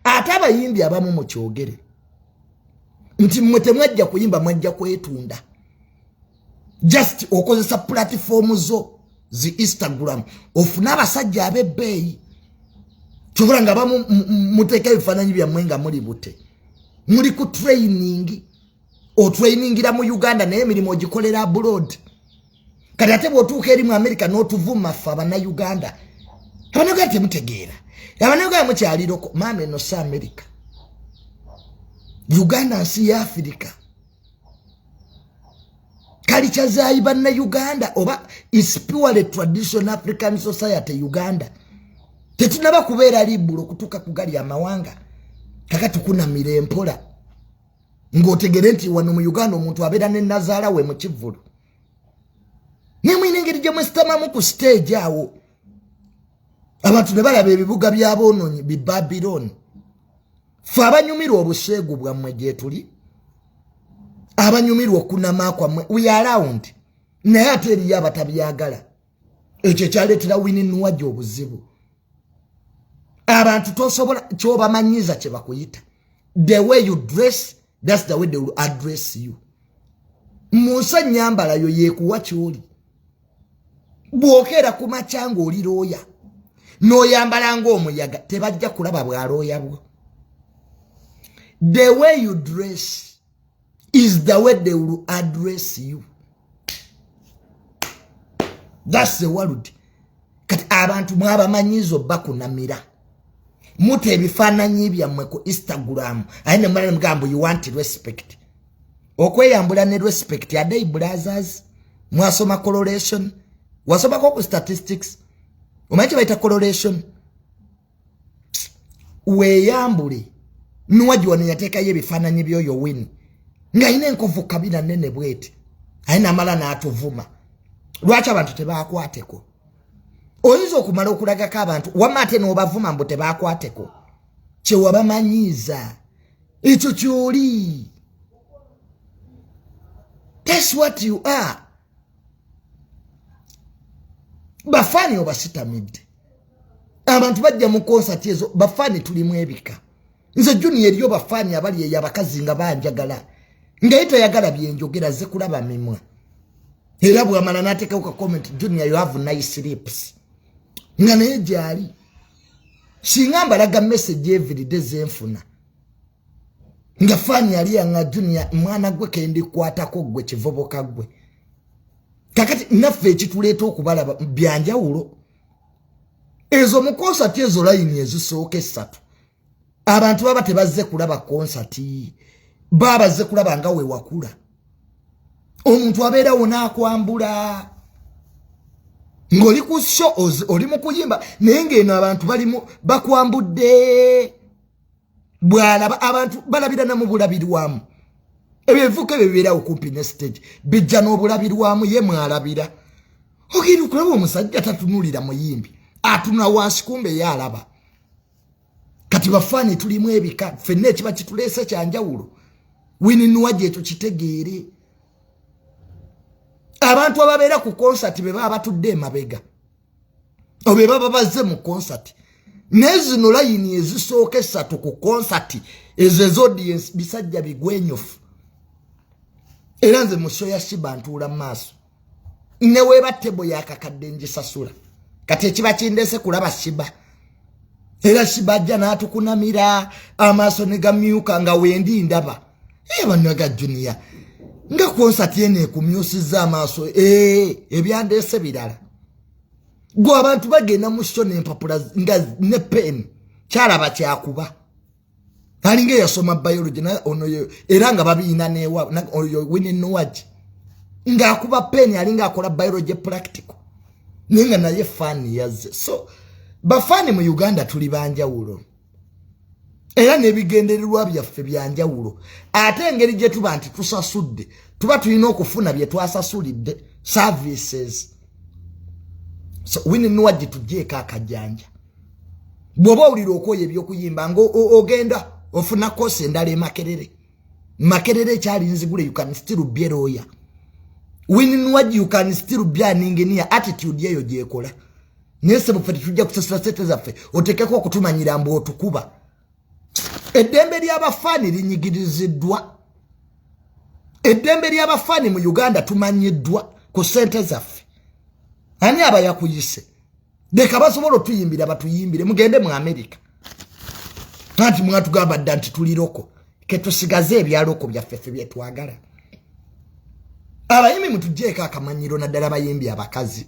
ate abayimbi abamu mukyogere nti mwe temwajja kuyimba mwajja kwetunda just okozesa pulatifoomu zo zi instagram ofune abasajja abebbeeyi kyobola nga bamu muteeka ebifaananyi byammwe nga muli bute muli ku training otrainingira mu uganda naye emirimu ogikolera abroad kati ate bwotuuka eri mu amerika n'otuvuma ffe abanauganda abanauganda temutegeera abanauganda mukyaliroko maama eno si amerika uganda nsi ya afirika kalica zayi banna uganda oba is purely tradition african society uganda tetunaba kubeera libulo okutuuka kugali amawanga kaka tukunamira empola ng'otegere nti wano mu uganda omuntu abeera ne nazaala we mu kivvulu naye mulina engeri gye mwesitamamu ku siteegi awo abantu ne balaba ebibuga by'aboononyi bi babiloni fe abanyumirwa obuseegu bwammwe gyetuli abanyumirwa okunama kwammwe we around naye ate eriyo abatabyagala ekyo ekyaleetera wini nuwaja obuzibu abantu tosobola kyobamanyiza kyebakuyita the way you dress that's the way they will address you munsi enyambala yo yekuwa kyoli bwokeera ku makya nga oli looya noyambala ngaomuyaga tebajja kulaba bwalooya bwo the way you dress is the way they will address you that's the world kati abantu mwabamanyiiza obakunamira muta ebifaananyi byammwe ku instagram aye nemulana mugambo you want respect okweyambula ne respect adei brazers mwasoma coloration wasomako ku statistics omanyi kyebaita coloration weyambule nuwagi wano yateekayo ebifaananyi byoyo wini ng'alina enkovu kabina nene bweti aye namala n'atuvuma lwaki abantu tebakwateko oyinza okumala okulagako abantu wama ate n'obavuma mbu tebakwateko kyewabamanyiiza ekyo kyoli that's what you are bafaani obasitamidde abantu bajja mu konsati ezo bafaani tulimu ebika nze juni eriyo bafaani abali eyo abakazi nga banjagala ngaye toyagala byenjogera ze kulaba mimwa era bwamala nateekawo ka comment juni ayo have nice lips nga naye gyali singa mbalaga message everyday zenfuna nga faani yali yanga junia mwana gwe kendikwatako gwe kivubuka gwe kakati naffe ekituleeta okubalaba byanjawulo ezo mu konsati ezo layini ezisooka essatu abantu baba tebazze kulaba konsati babazze kulaba nga wewakula omuntu abeera wona akwambula ng'oli ku sho oli mu kuyimba naye ng'eno abantu balimu bakwambudde bwalaba abantu balabira na mubulabirwamu ebyo ebivuka ebyo bibeerawo kumpi ne stage bijja n'obulabirwamu ye mwalabira ogenda okulaba omusajja tatunulira muyimbi atunula wansi kumbe ye alaba kati bafaani tulimu ebika fenna ekiba kituleese kyanjawulo wininuwa gyetu kitegeere abantu ababeera ku konsati be baba batudde emabega obe baba bazze mu konsati naye zino layini ezisooka essatu ku konsati ezo ezodiensi bisajja bigwenyofu era nze musho ya shiba ntuula maaso neweeba tebo yakakadde njisasula kati ekiba kindese kulaba shiba era sibajja n'atukunamira amaaso ne gamyuka nga wendi ndaba ee eh, bannaga juniya nga konsati eno ekumyusizza amaaso ee eh, ebyandeese birala gwe abantu bagenda mu sho nempapula nga ne peni kyalaba kyakuba alinga eyasoma biology ono era nga babiina newa oyo wini nuwagi ngaakuba peni alinga akola biology practical naye nga naye faani yazze so bafaani mu uganda tuli banjawulo era n'ebigendererwa byaffe byanjawulo ate engeri gye tuba nti tusasudde tuba tulina okufuna bye twasasulidde services so wini nuwagi tugyeeko akajanja bwoba owulira okwoyo ebyokuyimba nga ogenda ofuna kosi endala emakerere makerere ekyali nzigule you can still be a lawyer wininwaj you can still be an engineer attitude eyo gyekola naye sebo fe tetujja kusasula sente zaffe otekeko okutumanyira mbu otukuba eddembe ly'abafaani linyigiriziddwa eddembe ly'abafaani mu uganda tumanyiddwa ku sente zaffe ani aba yakuyise leka basobola otuyimbira batuyimbire mugende mu amerika anti mwatugamba dda nti tuli loko ketusigaze ebyaloko byaffe fe byetwagala abayimbi mutujeeko akamanyiro naddala bayimbi abakazi